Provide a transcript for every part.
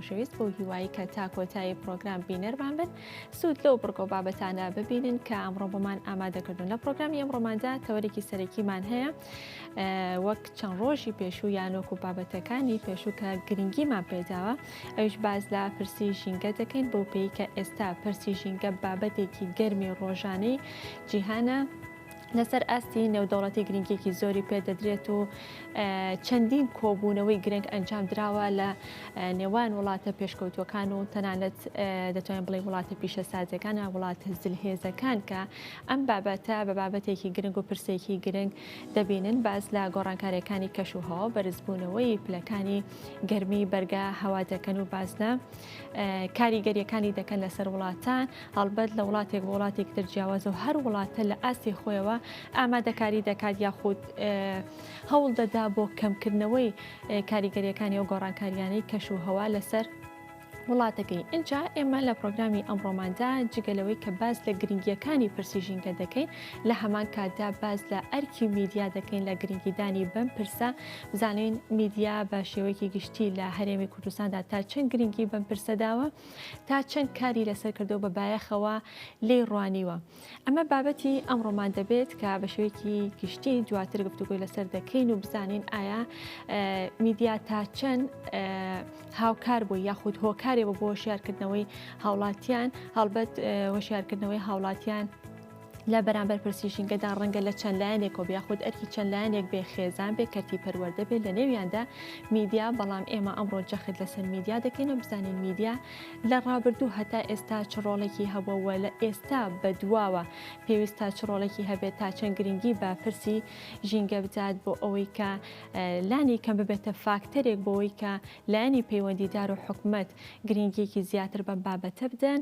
خۆشەویست بۆ هیوایی کە تا کۆتایی پرۆگرام بینەرمان بن سوود لەو بڕگۆ بابەتانە ببینن کە ئەمڕۆ بۆمان ئامادەکردن لە پرۆگرامی ئەم ڕۆماندا تەوەرێکی سەرەکیمان هەیە وەک چەند ڕۆژی پێشوو یانۆک و بابەتەکانی پێشوو کە گرنگیمان پێداوە ئەوش باز لە پرسی ژینگە دەکەین بۆ پێی کە ئێستا پرسی ژینگە بابەتێکی گەرمی ڕۆژانەی جیهانە لەسەر ئاستی نێودەوڵەتی گرنگێکی زۆری پێدەدرێت و چەندین کۆبوونەوەی گرنگ ئەنجام دراوە لە نێوان وڵاتە پێشکەوتوەکان و تەنانەت دەتوانین بڵێ وڵاتە پیشە سازەکانە وڵاتە زلهێزەکان کە ئەم بابەتە بە بابەتێکی گرنگ و پرسێکی گرنگ دەبینن باز لە گۆڕانکارەکانی کەش و هەوا بەرزبوونەوەی پلەکانی گەرمی بەرگا هەوا دەکەن و باز لە کاریگەریەکانی دەکەن لەسەر وڵاتان هەڵبەت لە وڵاتێک بۆ وڵاتێکی تر جیاوازە و هەر وڵاتە لە ئاستی خۆیەوە ئامادەکاری دەکات یاخود هەوڵ دەدا بۆ کەمکردنەوەی کاریگەریەکانی و گۆڕانکاریانەی کەش و هەوا لەسەر وڵاتەکەی ئینجا ئێمە لە پرۆگرامی ئەمڕۆماندا جگەلەوەی کە باز لە گرنگیەکانی پرسی ژینگە دەکەین لە هەمان کاتدا باز لە ئەرکی میدیا دەکەین لە گرنگیدانی بەم پرسە بزانین میدیا بە شێوەیەکی گشتی لە هەرێمی کوردستاندا تا چەند گرنگی بەم پرسەداوە تا چەند کاری لەسەر کردو بە بایەخەوە لی ڕوانیوە ئەمە بابەتی ئەمڕۆمان دەبێت کە بە شوێکی گشتی دواتر گفتوگوی لەسەر دەکەین و بزانین ئایا میدیا تا چەند هاوکار بوو یاخود هۆکارێ بۆ بۆ شارکردنەوەی هاوڵاتیان هەڵبەت هۆشارکردنەوەی هاوڵاتیان لە بەرامبەر پرسی ژینگەدا ڕەنگە لە چەند لایەنێکەوە بێ خود ئەرکی چەند لایەنێک بێ خێزان بێ کەرتی پەروەردە بێت لە نێویاندا میدیا بەڵام ئێمە ئەمڕۆ جەخت لەسەر میدیا دەکەین و بزانین میدیا لە ڕابردوو هەتا ئێستا چ ڕۆڵێکی هەبووە لە ئێستا بە دواوە پێویستە چ ڕۆڵێکی هەبێت تا چەند گرنگی بە پرسی ژینگە بدات بۆ ئەوەی کە لانی کەم ببێتە فاکتەرێک بۆەوەی کە لایەنی پەیوەندیدار و حکومت گرنگیەکی زیاتر بەم بابەتە بدەن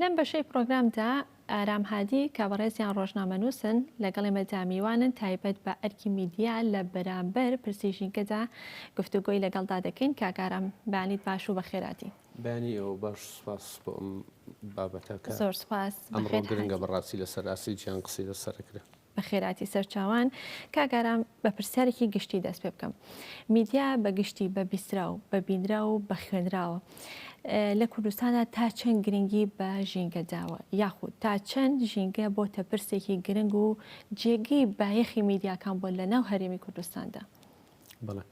لەم بەشەی پرۆگرامدا ئارام هادی کە بەڕێزیان ڕۆژنامەنووسن لەگەڵ ئێمەدا میوانن تایبەت بە ئەرکی میدیا لە بەرامبەر پرسی ژینگەدا گفتوگۆی لەگەڵدا دەکەین کاکارام بانیت باش و بەخێراتین بەیانی ئێوە باش سوپاس بۆ ئەم بابەتە کە زۆر سوپاس بەخێر ئەمڕۆ گرنگە هات بەڕاستی لەسەر ئاستی جیهان قسەی لەسەر ئەکرێ. بەخێرهاتی سەرچاوان، کاک ئارام بە پرسیارێکی گشتی دەست پێ بکەم میدیا بە گشتی بە بیستراو بە بینراو و بە خوێنراوە ئە، لە کوردستانا تا چەند گرنگی بە ژینگە داوە یاخود تا چەند ژینگە بۆتە پرسێکی گرنگ و جێگەی بایەخی میدیاکان بۆ لە ناو هەرێمی کوردستاندا؟ بەڵێ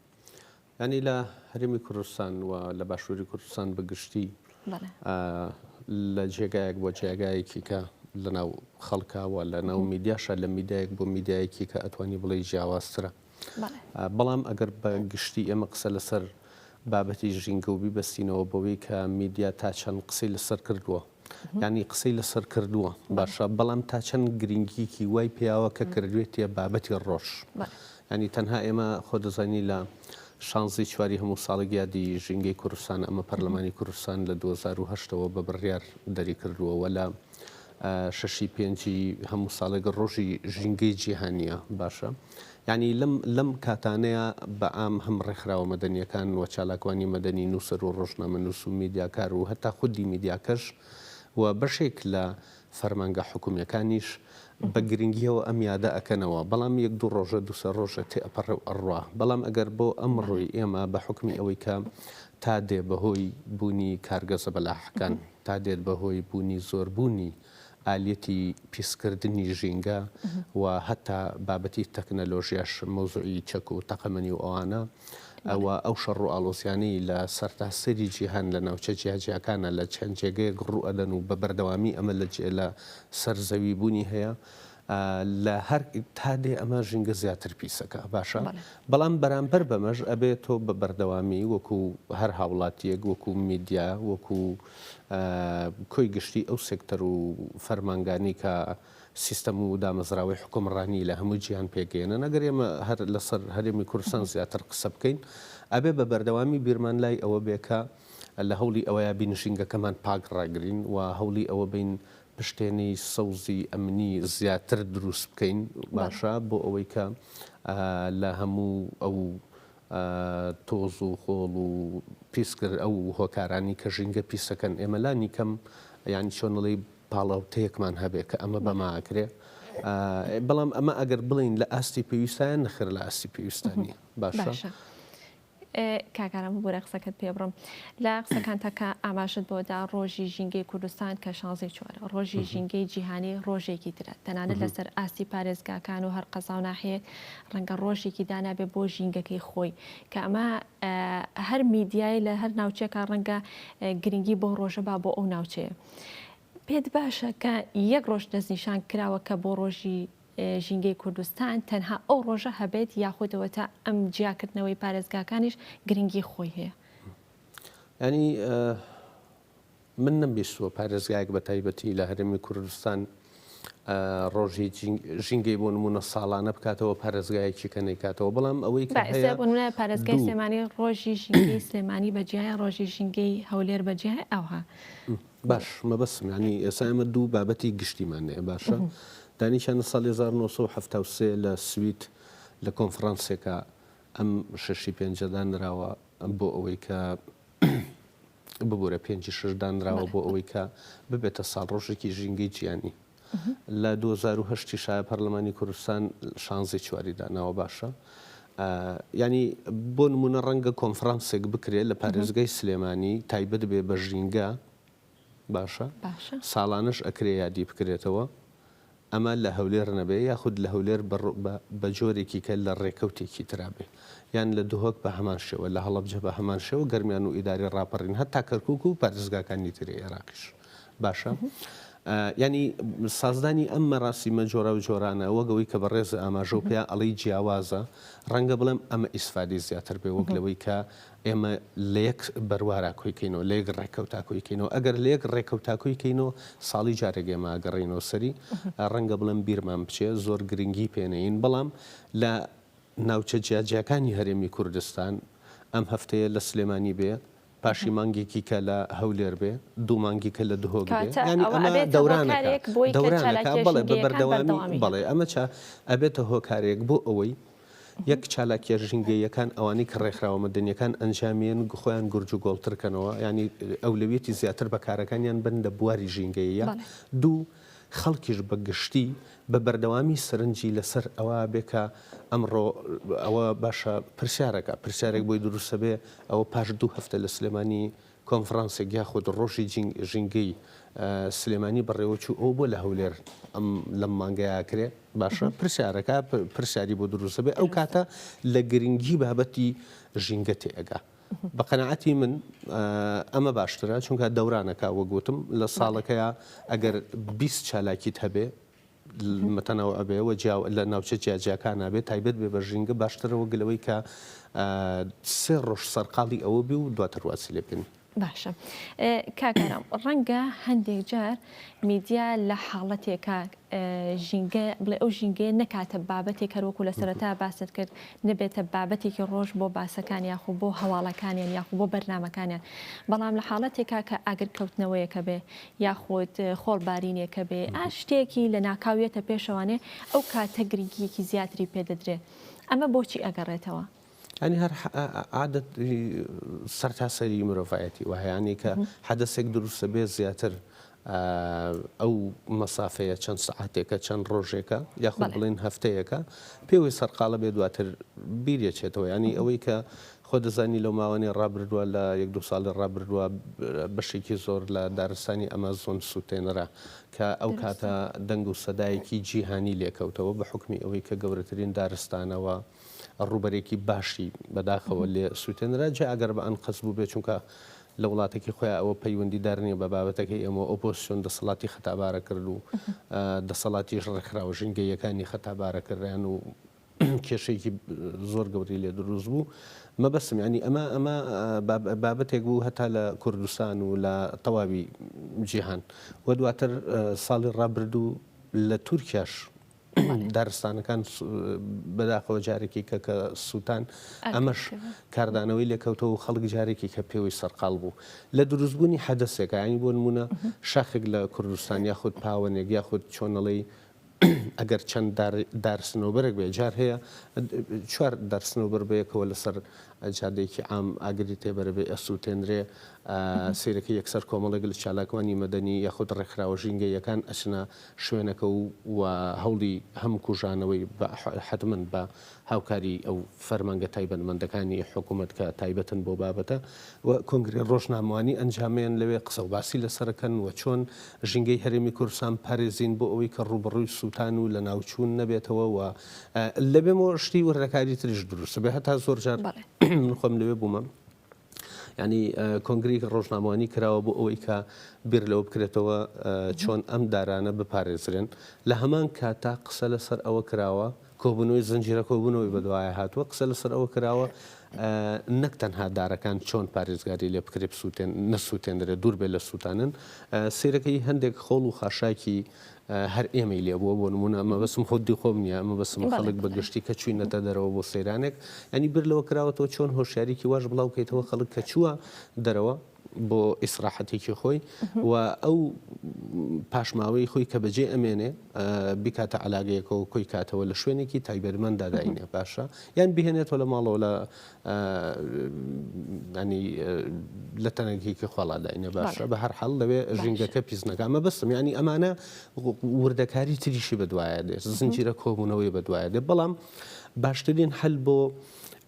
یانی لە هەرێمی کوردستان و لە باشووری کوردستان بە گشتی لە جێگایەک بۆ جێگایەکی کە لە ناو خەڵکە و لە ناو میدیاشە لە میدایەک بۆ میدایەکی کە ئەتوانی بڵێ جیاوازترە بەڵام ئەگەر بە گشتی ئێمە قسە لەسەر بابەتی ژینگە و بیبەستینەوە بەوەی کە میدیا تا چەند قسەی لەسەر کردووە یانی قسەی لەسەر کردووە باشە بەڵام تا چەند گرنگیەکی وای پیاوە کە کردوێتیە بابەتی ڕۆژ یانی تەنها ئێمە خۆ دەزانی لە شانزی چواری هەموو ساڵێک یادی ژینگەی کوردستان ئەمە پەرلەمانی کوردستان لە 2010 وە بە بڕیار دەری کردووە وە لە شەشی پێنجی هەموو ساڵێک ڕۆژی ژینگەی جیهانیە باشە یانی لەم لەم کاتانەیا بە عام هەم ڕێکخراوە مەدەنیەکان و چالاکوانی مەدەنی، نوسەر و ڕۆژنامەنوس و میدیاکار و هەتا خودی میدیاکەش و بەشێک لە فەرمانگە حکومیەکانیش بە گرنگیەوە ئەم یادە ئەکەنەوە بەڵام یەک دوو ڕۆژە دو سێ ڕۆژە تێ ئەپەڕێ و ئەڕوا بەڵام ئەگەر بۆ ئەمڕۆی ئێمە بە حوکمی ئەوەی کە تا دێ بە هۆی بونی کارگە زەبەلاحەکان تا دێت بە هۆی بونی زۆربونی ئالیەتی پیسکردنی ژینگە و هەتا بابەتی تەکنەلۆژیاش مەوزوعی چەک و تەقەمەنی و ئەوانە و ئەو شەڕ و ئاڵۆزیانەی لە سەرتاسەری جیهان لە ناوچە جیاجیاکانە لە چەند جێگەیەک ڕوو ئەدەن و بە بەردەوامی ئەمە لە جێ لە سەر زەوی بوونی هەیە لە هەر تا دێ ئەمە ژینگە زیاتر پیسەکە باشە بەڵام بەرامبەر بەمەش ئەبێ تۆ بە بەردەوامی وەکو هەر هاوڵاتیەک وەکو میدیا وەکو کۆی گشتی ئەو سێکتەر و فەرمانگانەی کە سیستەم و دامەزراوەی حوکمڕانی لە هەموو جیهان پێکدێنن، ئەگەر ئێمە هەر لەسەر هەرێمی کوردستان زیاتر قسە بکەین، ئەبێ بە بەردەوامی بیرمان لای ئەوە بێ کە لە هەوڵی ئەوە بین ژینگەکەمان پاک ڕاگرین و هەوڵی ئەوە بین پشتێنەی سەوزی ئەمنی زیاتر دروست بکەین، باشە بۆ ئەوەی کە لە هەموو ئەو تۆز و خۆڵ و پیسکردن ئەو هۆکارانەی کە ژینگە پیسەکەن ئێمە لانی کەم یانی چۆن ئەڵێی پاڵاوتەیەکمان هەبێ کە ئەمە بەما ئەکرێ بەڵام ئەمە ئەگەر بڵین لە ئاستی پێویستیان نەخر لە ئاستی پێویستانی باشە. کاکارم ببورە قسەکەت پێ بڕم لە قسەکانتەکە ئاماژت بۆدا ڕۆژی ژینگەی کوردستان کە شانزی چوار ڕۆژی ژینگەی جیهانی ڕۆژێکی ترە تەنانەت لەسەر ئاستی پارێزگاکان و هەر قەزا و ناحەیەک ڕەنگە ڕۆژێکی دانابێ بۆ ژینگەکەی خۆی کە ئەمە هەر میدیای لە هەر ناوچێکە ڕەنگە گرنگی بۆ ڕۆژە با بۆ ئەو ناوچەیە پێت باشە کە یەک ڕۆژ دەستنیشان کراوە کە بۆ ڕۆژی ژینگەی کوردستان تەنها ئەو ڕۆژە هەبێت یاخودەوە تا ئەم جیاکردنەوەی پارێزگاکانیش گرنگی خۆی هەیە ینی من نەمبیستووە پارێزگایەک بە تایبەتی لە هەرێمی کوردستان ڕۆژی ژینگەی بۆ نمونە ساڵانە بکاتەوە پارێزگایەکی کە نەیکاتەوە بەڵام ئەوەی پارێزگای سلێمانی ڕۆژی ژینگەی سلێمانی بەجیایە ڕۆژی ژینگەی هەولێر بەجیای ئەوها باش مەبەسمانی ئێسا ئەمە دوو بابەتی گشتیمانێ باشە دانیشانە ساڵ 1970 لە سویت لە کۆنفرانسێکە ئەم شەشی پێنجەدا نراوە بۆ ئەوەی کە ببورە پێنج و شەش دانراوە بۆ ئەوەی کە ببێتە ساڵڕۆژێکی ژینگەی جیهانی. لە دوو هەزار و هەشت یشا پەرلەمانی کوردستان شانزەی چواری داناوە باشە یانی بۆ نمونە ڕەنگە کۆنفرانسێک بکرێت لە پارێزگای سلێمانی تایبەت بێ بە ژینگە باشە ساڵانەش ئەکرێ یادی بکرێتەوە ئەمە لە هەولێر نەبێ یاخود لە هەولێر بە جۆرێکی کە لە ڕێکەوتێکی ترا بێ یان لە دهۆک بە هەمان شێوە، لە هەڵەبجە بە هەمان شێوە، گەرمیان و ئیدارەی ڕاپەڕین هەتا کەرکووک و پارێزگاکانی تری عێراقیش باشە. یانی سازدانی ئەم مەراسیمە جۆراوجۆرانە وەک ئەوەی کە بەڕێز ئاماژە و پێیان ئەڵێی جیاوازە، ڕەنگە بڵێم ئەمە ئیسفادەی زیاتر بێ وەک لەوەی کە ئێمە لە یەک بەروارا کۆی کەینەوە، لە یەک ڕێکەوتا کۆی کەینەوە. ئەگەر لە یەک ڕێکەوتا کۆی کەینەوە، ساڵی جارێک ئێمە ئەگەڕێینەوە سەری. ڕەنگە بڵێم بیرمان بچێ، زۆر گرنگی پێ نەیین. بەڵام لە ناوچە جیاجیاکانی هەرێمی کوردستان، ئەم هەفتەیە لە سلێمانی بێ، پاشی مانگێکی کە لە هەولێر بێ، دوو مانگی کە لە دهۆک بێ. یانی ئەمە دەورانەکە، دەورانەکە. بەڵێ بە بەردەوامی، بەڵێ ئەمە چا ئەبێتە هۆکارێک بۆ ئەوەی یەک چالاکیە ژینگەییەکان ئەوانەی کە ڕێکخراوە مەدەنیەکان ئەنجامیێن خۆیان گورج و گۆڵتر کەنەوە یانی ئەولەویەتی زیاتر بە کارەکانیان بن لە بواری ژینگەییە دوو خەڵکیش بە گشتی بە بەردەوامی سەرنجی لەسەر ئەوە بێ کە ئەمڕۆ ئەوە باشە پرسیارەکە پرسیارێک بۆی دروستە بێ ئەوە پاش دوو هەفتە لە سلێمانی کۆنفرانسێک یاخود ڕۆژی ژینگەی سلێمانی بەڕێوە چوو ئەوە بۆ لە هەولێر ئەم لەم مانگەی ئاکرێ باشە پرسیارەکە پرسیاری بۆ دروست دەبێت ئەو کاتە لە گرنگی بابەتی ژینگە تێگا بە قەنەعەتی من ئەمە باشترە چونکە دەورانەکە وەگوتم لە ساڵەکەیە ئەگەر 20 چالاکیت هەبێ متنوع بێ و جیا لە ناوچە جیاجیاکانا بێ تایبەت بێ بە ژینگە باشترە وەک لەوەی کە سێ ڕۆژ سەرقاڵی ئەوە بی و دواتر واسی لێ بکەین. باشە کاک ئارام ڕەنگە هەندێک جار میدیا لە حاڵەتێکە ژینگە بڵێ ئەو ژینگەیە نەکاتە بابەتێک هەروەکو لە سەرەتا باست کرد نەبێتە بابەتێکی ڕۆژ بۆ باسەکان یاخو بۆ هەواڵەکانیان یاخو بۆ بەرنمەکانیان بەڵام لە حاڵەتێکا کە ئاگرکەوتنەوەیەکە بێ یاخود خۆڵ بارینێکە بێ ئا شتێکی لە ناکاو یەتە پێشەوانێ ئەو کاتە گرنگیەکی زیاتری پێ دەدرێ ئەمە بۆچی ئەگەڕێتەوە؟ یانی هەر عادەت سەرتاسەری مرۆڤایەتی وە هەیانی کە حەدەسێک دروستە بێ زیاتر ئەو مەسافەیە چەند سەعاتێکە چەند ڕۆژێکە یاخود بڵێن هەفتەیەەکە پێوەی سەرقاڵە بێ دواتر بیرێچێتەوە ینی ئەوەی کە خۆت دەزانی لەو ماوانەی ڕابردووە لە یەک دوو ساڵی ڕابردووە بەشێکی زۆر لە دارستانی ئەمازۆن سووتێنرا کە ئەو کاتە دروستە. دەنگ و سەدایەکی جیهانی لێ کەوتەوە بە حوکمی ئەوەی کە گەورەترین دارستانە و ڕووبەرێکی باشی بە داخەوە لێ سووتێنرا جا ئەگەر بە ئەنقەست بووبێ چونکە لە وڵاتەکی خۆیان ئەوە پەیوەندی دار نییە بە بابەتەکەی ئێمە و ئۆپۆزسیۆن دەسەڵاتی خەتابارە کرد و دەسەڵاتیش ڕێکخراوە ژینگەییەکانی خەتابارە کردیان و کێشەیەکی زۆر گەورەی لێ دروست بوو مەبەستم یعنی ئەمە ئەمە بابەتێک بوو هەتا لە کوردستان و لە تەواوی جیهان و دواتر ساڵی ڕابردوو لە تورکیاش دارستانەکان بەداخەوە جارێکی کە کە سووتان ئەمەش کاردانەوەی لێکەوتەوە خەڵک جارێکی کە پێوەی سەرقال بوو لە دروستبوونی حەدەسێکانی بۆ نمونە شاخێک لە کوردستان یاخود پاوەنێک یاخود چۆنەڵی ئەگەر چەند دار دارسنۆبەرێک بێ جار هەیە چوار دارسنۆبەر بەیەکەوە لەسەر جادەیەکی عام ئاگری تێبەرە بێ ئەسووتێنرێ سیرەکە یەکسەر کۆمەڵێک لە چالاکوانی مەدەنی یاخود ڕێکخراوە ژینگەیەکان ئەچنە شوێنەکە و و هەوڵی هەم کوژانەوەی حتمما بە هاوکاریی ئەو فەرمانگە تایبەتمەندەکانی حکوومەت کە تایبەتن بەو بابەتە و کۆنگرەی ڕۆژنامەوانی ئەنجامێن لەوێ قسە و باسی لەسەر ئەکەن و چۆن ژینگەی هەرێمی کوردستان بپارێزین بۆ ئەوەی کە ڕووبەڕووی سووتان و لەناوچوون نەبێتەوە و لەبێمەوە شتی وردەکاری تریش دروست بێ هەتا زۆر جار من خۆم لەوێ بوومە. یانی کۆنگرەی ڕۆژنامەوانی کراوە بۆ ئەوەی کە بیر لەوە بکرێتەوە چۆن ئەم دارانە بپارێزرێن لە هەمان کاتا قسە لەسەر ئەوە کراوە کۆبنەوەی زنجیرە کۆبنەوەی بەدوایە هاتووە قسە لەسەر ئەوە کراوە نەک تەنها دارەکان چۆن پارێزگاری لێ بکرێ بسووتێن نەسووتێنرێت دوور بێ لە سووتانن سیرەکەی هەندێک خۆڵ و خاشاکی هەر ئێمەی لێ بووە بۆ نموونە مەبەستم خودی خۆم نییە مەبەستمە خەڵک بە گشتی کە چووینەتە دەرەوە بۆ سەیرانێک یانی بیر لەوە کراوەتەوە چۆن هۆشیاریی واش بڵاو کەیتەوە خەڵک کە چووە دەرەوە بۆ ئیسراحەتێکی خۆی و ئەو پاشماوەی خۆی کە بەجێ ئەمێنێ بکاتە عەلاگەیەکەوە کۆی کاتەوە لە شوێنێکی تایبەتمەندا داینێ باشە یان بهێنێتەوە لە ماڵەوە لە ینی لە تەنگێکی خۆڵا داینێ باشە بە هەر حەڵ لەوێ ژینگەکە پیسنەکە ئەمە بەستم ینی ئەمانە وردەکاری تریشی بەدوایە دێ زنجیرە کۆبوونەوەی بەدوایە دێ بەڵام باشترین هەل بۆ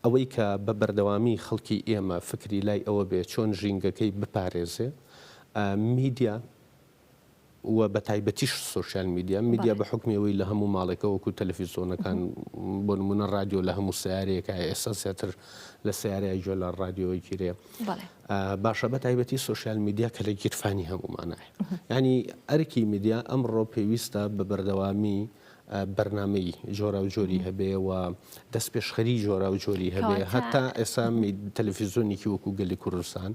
ئەوەی کە بە بەردەوامی خەڵکی ئێمە فکری لای ئەوە بێ چۆن ژینگەکەی بپارێزێ میدیا و بە تایبەتیش سۆشیال میدیا، میدیا بە حوکمی ئەوەی لە هەموو ماڵێکە وەکو تەلەفیزۆنەکان بۆ نمونە ڕادیۆ لە هەموو سیارەیەکە ئێستا زیاتر لە سیارای جۆ لە ڕادیۆی گیرێ باشە بە تایبەتی سۆشیال میدیا کە لە گیرفانی هەموومانایە ینی ئەرکی میدیا ئەمڕۆ پێویستە بە بەردەوامی بەرنامەی جۆراوجۆری هەبێ و دەستپێشخەری جۆراوجۆری هەبێ هەتا ئێسا تەلەفیزۆنیکی وەکو گەلی کوردستان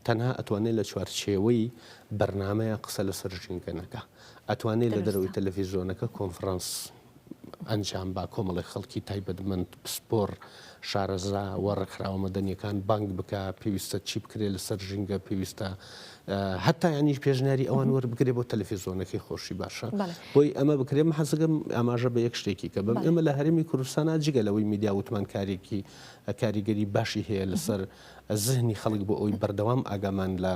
تەنها ئەتوانێت لە چوارچێوەی بەرنمەیە قسە لە سەرژینگەنەکە ئەتوانێت لە دەرەوەی تەلەفیزۆنەکە کۆنفرانس ئەنجام با کۆمەڵی خەڵکی تایبەتمەند پسپۆر شارەزا و ڕێکخراوە مەدەنیەکان بانگ بک پێویستە چی بکرێت لەسەر ژینگە پێویستە هەتا یانیش پێشنیاری ئەوان وەربگرێ بۆ تەلەفیزۆنەکەی خۆشی باشە بۆی ئەمە بکرێ من حەزەکەم ئاماژە بە یەک شتێکی کە بەم ئێمە لە هەرێمی کوردستانە جگە لەوەی میدیا وتمانکارێکی کاریگەری باشی هەیە لەسەر زهنی خەڵک بۆ ئەوی بەردەوام ئاگامان لە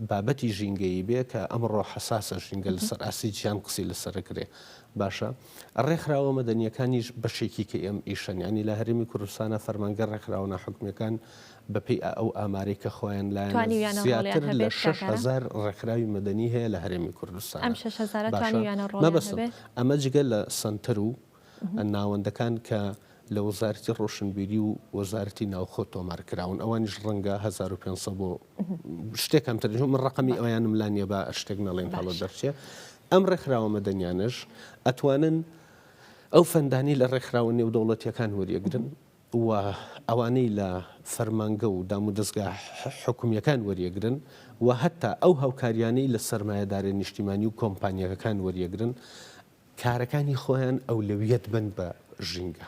بابەتی ژینگەیی بێ کە ئەمڕۆ حساسە ژینگە لەسەر ئاسی جیان قسی لەسەرکرێ باشە ڕێکخراوە مەدەنیەکانیش بەشێکی کە ئێم ئیشەن ینی لە هەرمی کوردستانە فەرمانگە ڕێکخراوە حکومیەکان بەپێی ئەو ئامارەی کە خۆیان لایانە زیاتر لە شەش هەزار ڕێکخراوی مەدەنی هەیە لە هەرێمی کوردستان مەبەستم ئەمە جگە لە سەنتەر و ناوەندەکان کە لە وەزارەتی ڕۆشنبیری و وەزارەتی ناوخۆ تۆمار کراون ئەوانیش ڕەنگە 1500 بۆ شتێک کەم ترژ من ڕقمی ئەویانم لا نیە بە شتێک نەڵێن هەڵە دەرچێ ئەم ڕێکخراوە مەدەنیانش ئەتوانن ئەو فەندانی لە ڕێکخراوە نێودەوڵەتیەکان وەریەگرن و ئەوانەی لە فەرمانگە و دامودەزگا حکومییەکان وەریەگرن و هەتا ئەو هاوکارییانەی لە سەرمایەدارە نیشتیمانی و کۆمپانیاکەکان وەریەگرن کارەکانی خۆیان ئەولەویەت بن بە ژینگە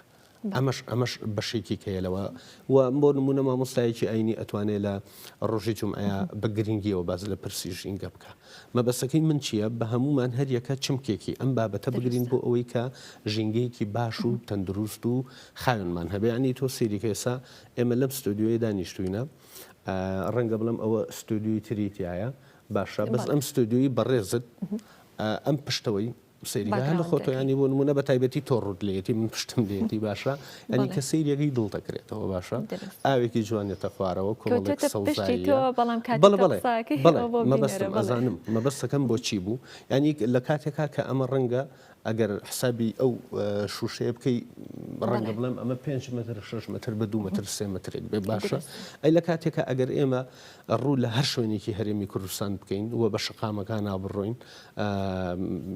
ئەمەش ئەمەش بەشێکی کەیە لەوە و بۆ نمونە مامۆستایەکی ئاینی ئەتوانێت لە ڕۆژی جمعەیە بە گرنگیەوە باز لە پرسی ژینگە بکە مەبەسەکەی من چییە بە هەمومان هەریەکە چمکێکی ئەم بابەتە بگرین بۆ ئەوەی کە ژینگەیەکی باش و تەندروست و خاوێنمان هەبێ یانی تۆ سەیری کە ئێسا ئێمە لەم ستۆدیۆیە دانیشتووینە ڕەنگە بڵێم ئەوە ستۆدیۆی تری تایە باشە بەس ئەم ستۆدیۆی بەڕێزت ئەم پشتەوەی سەیری هەر لە خۆتۆیانی بۆ نمونە بە تایبەتی تۆ ڕوت لێتی من پشتم لێتی باشە ئەنی کە سەیرەکەی دڵ دەکرێتەوە باشە ئاوێکی جوانێتە خوارەوە کۆڵێک سەڵزایی بەڵام بەڵێ مەبەستم ئەزانم مەبەستەکەم بۆچی بوو ینی لە کاتێکا کە ئەمە ڕەنگە ئەگەر حسابی ئەو شوشەیە بکەی ڕەنگە بڵێم ئەمە 5 متر 6 متر بە دو متر سێ مترێک بێ باشە ئەی لە کاتێکە ئەگەر ئێمە ڕوو لە هەر شوێنێکی هەرێمی کوردستان بکەین و بە شقامەکان نابڕۆین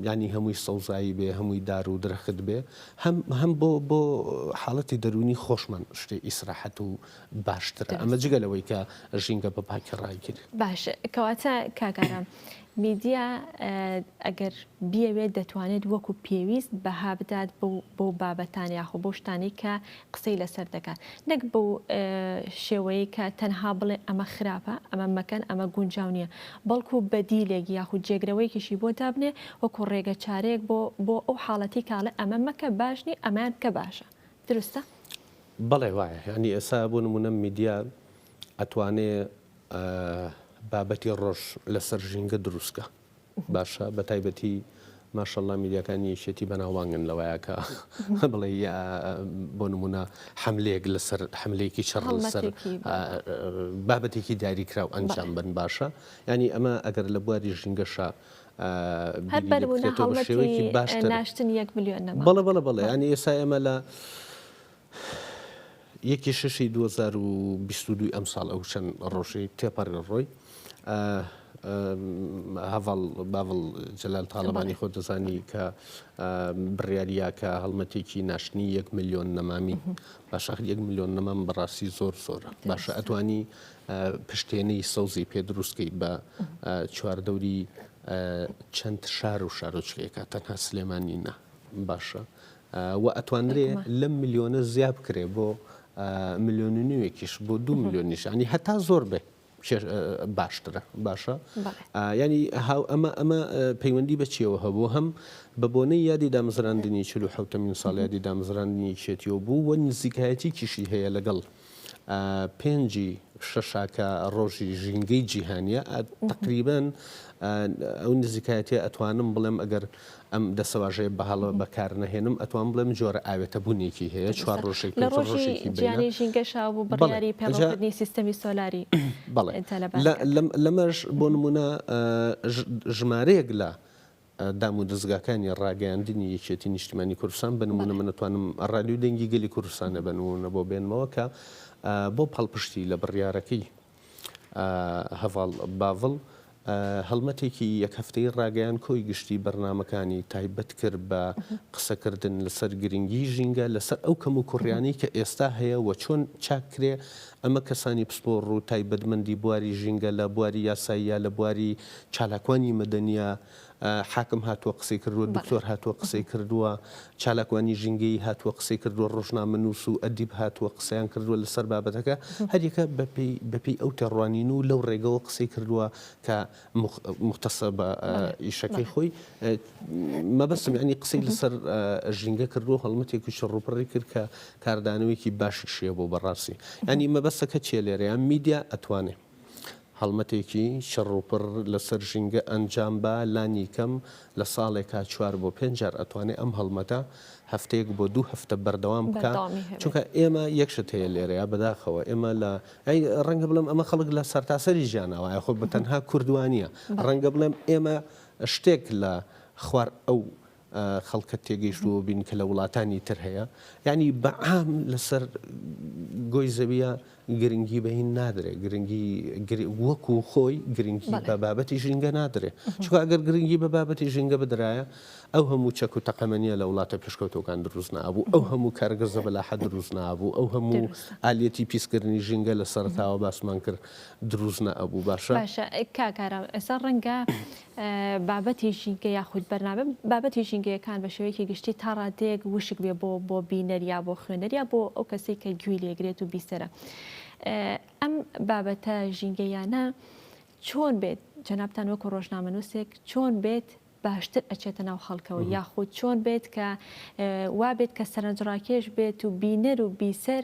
ینی هەمووی سەوزایی بێ هەمووی دار و درەخت بێ هەم هەم بۆ بۆ حاڵەتی دەرونی خۆشمان شتێ ئیسراحەت و باشترە ئەمە جگە لەوەی کە ژینگە بە پاکی ڕایگیری باش کەواتە کاکارم میدیا ئەگەر بیەوێت دەتوانێت وەکو پێویست بەها بدات بەو بابەتان یاخۆ بەو شتانەی کە قسەی لەسەر دەکات نەک بەو شێوەیەی کە تەنها بڵێ ئەمە خراپە ئەمە مەکەن ئەمە گونجاو نییە بەڵکو بەدیلێک یاخود جێگرەوەیکیشی بۆ دابنێ وەکو ڕێگە چارەیەک بۆ بۆ ئەو حاڵەتی کاڵێ ئەمە مەکە باشنی ئەمان بکە باشە دروستە؟ بەڵێ وایە ینی ئێسا بۆ نمونە میدیا ئەتوانێ بابەتی ڕۆژ لەسەر ژینگە دروستکە باشە بەتایبەتی ماشەڵا میدیاکانی یەکێتی بەناوبانگن لەوەیە کە بڵێ بۆ نمونە حملەیەک لەسەر حملەیەکی چڕ لەسەر بابەتێکی دیاریکراو ئەنجام بن باشە ینی ئەمە ئەگەر لە بواری ژینگەشە هەر بەربوونە هەڵمەتی باشتر ناشتن یەک ملیۆن بەڵە بەڵە بەڵێ ینی ئێسا ئێمە لە یەکی شەشی دوو هەزار و بیست و دووی ئەمساڵ ئەو چەند ڕۆژەی تێپەڕێ ڕۆی هەڤاڵ باڤڵ جەلال تاڵەبانی خۆ دەزانی کە بڕیاریا کە هەڵمەتێکی ناشتنی یەک ملیۆن نەمامی باشە یەک ملیۆن نەمام بەڕاستی زۆر زۆرە باشە ئەتوانی پشتێنەی سەوزی پێ دروستکەی بە چواردەوری چەند شار و شارۆچکەیەکە تەنها سلێمانی نە باشە وە ئەتوانرێ لەم ملیۆنە زیا بکرێ بۆ ملیۆن و نیوێکیش بۆ دوو ملیۆنیش یانی هەتا زۆر بێ باشترە باشە ینی هاو ئەمە ئەمە پەیوەندی بەچیەوە هەبوو هەم بە بۆنەی یادی دامزراندنی چلو حوتەمین ساڵیادی دامزراندنی چێتیەوە بوو وە نزیکایەتی کیشی هەیە لەگەڵ ە پێنجی شەشاکە ڕۆژی ژینگەی جیهانیە تقریبن ئەو نزیکایەتی ئەتوانم بڵێم ئەگەر ئەم دەسەواژەیە بەهاڵە بەکار نەهێنم ئەتوان بڵێم جۆرە ئاوێتە بوونێکی هەیە چوار ڕۆژی ژیانی ژینگەشا بوو بڕیاری پێڕنی سیستەمی سۆلاری بەڵێ لەمەش بۆ نمونە ژمارەیەک لە دامودەزگاکانی ڕاگەیاندنی یەکێتی نیشتیمانی کوردستان بە نموونە من ئەتوانم ڕادیۆی دەنگی گەلی کوردستانە بە نموونە بۆ بێنمەوە کە بۆ پاڵپشتی لە بڕیارەکەی هەڤاڵ باڤڵ هەڵمەتێکی یەک هەفتەی ڕاگەیان کۆی گشتی بەرنامەکانی تایبەت کرد بە قسەکردن لەسەر گرنگی ژینگە لەسەر ئەو کەم و کوڕیانی کە ئێستا هەیە و چۆن چاک کرێ ئەمە کەسانی پسپۆڕ و تایبەتمەندی بواری ژینگە لە بواری یاسایی یا لە بواری چالاکوانی مەدەنیە، حاکم هاتووە قسەی کردووە، دکتۆر هاتووە قسەی کردووە، چالاکوانی ژینگەیی هاتووە قسەی کردووە، ڕۆژنامەنووس و ئەدیب هاتووە قسەیان کردووە لەسەر بابەتەکە، هەریەکە بەپێی بەپێی ئەو تێڕوانین و لەو ڕێگەوە قسەی کردووە کە موختەسە بە ئیشەکەی خۆی. مەبەستم یانی قسەی لەسەر ژینگە کردووە هەڵمەتێکی چڕوپڕی کرد کە کاردانەوەیەکی باشیش هەیە بۆ بەڕاستی. یانی مەبەستەکە چیە لێرە یان میدیا ئەتوانێ. هەڵمەتێکی چڕوپڕ لەسەر ژینگە ئەنجام با، لانیکەم لە ساڵێکا چوار بۆ پێنج جار ئەتوانێ ئەم هەڵمەتە هەفتەیەک بۆ دوو هەفتە بەردەوام بکا، بەردەوامی هەبێ. چونکە ئێمە یەک شت هەیە لێرەیا بەداخەوە ئێمە لە ئەی ڕەنگە بڵێم ئەمە خەڵک لە سەرتاسەری جیانا وایە خۆ بە تەنها کوردوانیە، بەڵێ. ڕەنگە بڵێم ئێمە شتێک لە خوار ئەو خەڵکت تێگەیشتووە بین کە لە وڵاتانی تر هەیە یعنی بە عام لەسەر گۆی زەویە گرنگی بە هین نادرێ گرنگی وەک و خۆی گرنگی بە بابەتی ژینگە نادرێ چکە ئەگەر گرنگی بە بابەتی ژینگە بدرایە ئەو هەموو چەک و تەقەمەنیە لە وڵاتە پێشکەوتەکان دروست نابوو ئەو هەموو کارگەزە بەلاحە دروست نابوو ئەو هەموو ئالەتی پیسکردنی ژینگە لە سەرتاوە باسمان کرد دروست نەبوو باشە باشە کاکارە ئێستا ڕەنگە بابەتی ژینگە یاخود بەرنامە بابەتی ژینگەیەکان بە شێوەیەکی گشتی تا ڕادەیەک وشک بێ بۆ بۆ بینەر یا بۆ خوێنەر یا بۆ ئەو کەسەی کە گوێی لێگرێت و بیسەرە ئەم بابەتە ژینگەیانە چۆن بێت جەنابان وەکو ڕۆژنامەنووسێک چۆن بێت باشتر ئەچێتە ناو خەڵکەوە یاخود چۆن بێت کە وابێت کە سەرنجڕاکێش بێت و بینەر و بیسەر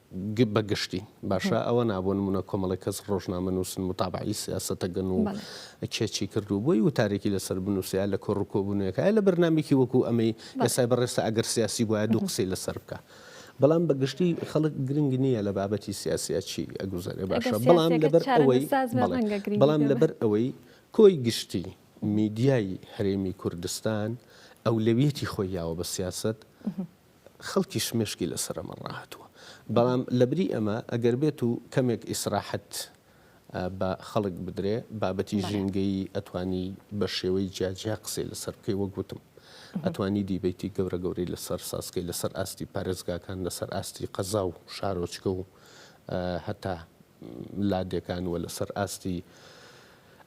بە گشتی باشە ئەوە نا بۆ نموونە کۆمەڵێک کەس ڕۆژنامە نووسن متابعەی سیاسەتە گەن و کێ چی کرد و بۆی وتارێکی لەسەر بنووسیا لە کۆڕ و کۆبوونەکە لە بەرنمێکی وەکو ئەمەی ئێستای بەڕێستا ئەگەر سیاسی بواە دوو قسەی لەسەر بکە. بەڵام بە گشتی خەڵک گرنگ نییە لە بابەتی سیاسیا چی ئەگوزارێ باشە بەڵام لەبەر ئەوەی بەڵام لەبەر ئەوەی کۆی گشتی میدیای هەرێمی کوردستان ئەولەویەتی خۆی یاوە بە سیاست خەڵکیش مێشکی لەسەر ئەمە ڕاهاتووە. بەڵام لەبری ئەمە ئەگەر بێت و کەمێک ئیسراحەت بە خەڵک بدرێ، بابەتی ژینگەیی ئەتوانی بە شێوەی جیا جیا قسەی لەسەر بکەی، وەک وتم ئەتوانی دیبەیتی گەورە گەورەی لەسەر ساز کەی، لەسەر ئاستی پارێزگاکان، لەسەر ئاستی قەزا و شارۆچکە و هەتا لادێکان و لەسەر ئاستی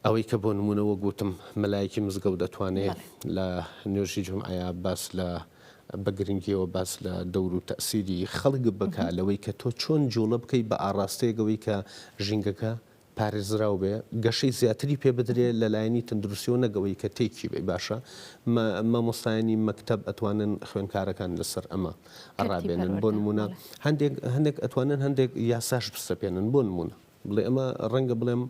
ئەوەی کە بۆ نموونە وەک وتم مەلایەکی مزگەوت ئەتوانێ لە نوێژی جومعەیا باس لە بە گرنگیەوە باس لە دەور و تەئسیری خەڵک بکە لەوەی کە تۆ چۆن جوڵە بکەی بە ئاڕاستەیەک ئەوەی کە ژینگەکە پارێزراو بێ گەشەی زیاتری پێ بدرێ لە لایەنی تەندروستیەوە نەک ئەوەی کە تێکی بێ باشە مە مامۆستایانی مەکتەب ئەتوانن خوێنکارەکان لە سەر ئەمە تەرتی ڕابێنن بۆ پەروەردە نموونە بەڵێ. هەندێک هەندێک ئەتوانن هەندێک یاساش بسەپێنن بۆ نموونە بڵێ ئەمە ڕەنگە بڵێم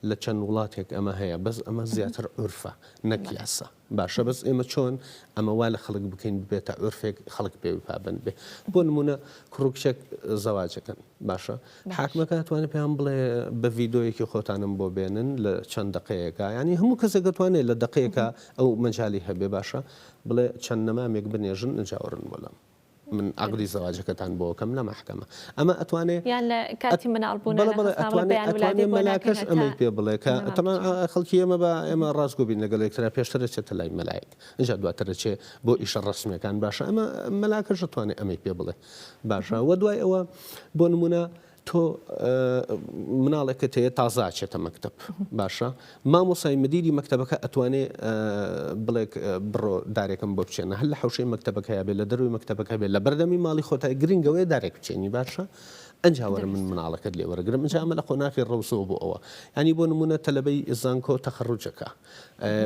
لە چەند وڵاتێک ئەمە هەیە بەس ئەمە زیاتر عورفە نەک یاسا. باشە بەس ئێمە چۆن ئەمە وا لە خەڵک بکەین ببێتە عورفێک خەڵک پێوی پابەند بێ بۆ نمونە کوڕکچێک زەواجەکەن باشە حاکمەکە توانێت پێیان بڵێ بە ڤیددیویەکی خۆتانم بۆ بێنن لە چەند دقەیەەکە ینی هەموو کەسێکە توانێت لە دقەیەکە ئەو مەجای هەبێ باشە بڵێ چەند نەمامێک بنێژن نجاوەڕن وەلام من عەقدی زەواجەکەتان بۆ ئەکەم لە مەحکەمە ئەمە ئەتوانێ یان لە کاتی مناڵ بوون بەڵێ بەڵێ ئەتوانێ ئەتوانێ مەلاکەش ئەمەی پێ بڵێ کە تەمان خەڵکی ئێمە بە ئێمە ڕاست گۆ بین لەگەڵ یەکترا پێشتر ئەچێتە لای مەلایەک ئینجا دواتر ئەچێ بۆ ئیشە ڕەسمیەکان باشە ئەمە مەلاکەش ئەتوانێ ئەمەی پێ بڵێ باشە وە دوای ئەوە بۆ نمونە تۆ مناڵێکت هەیە تازە ئەچێتە مەکتەب باشە مامۆسای مدیری مەکتەبەکە ئەتوانێ بڵێک بڕۆ دارێکم بۆ بچێنە هەر لە حوشەی مەکتەبەکە بێ لە دەروی مەکتەبەکە بێ لە بەردەمی ماڵی خۆتای گرنگەوەی دارێک بچێنی باشە ئەنجاوەر من مناڵەکەت لێ وەرەگرم ئەنجامە لە قۆناخی ڕەوسەوە بۆ ئەوە ینی بۆ نمونە تەلبەی زانکۆ تەخڕوجەکە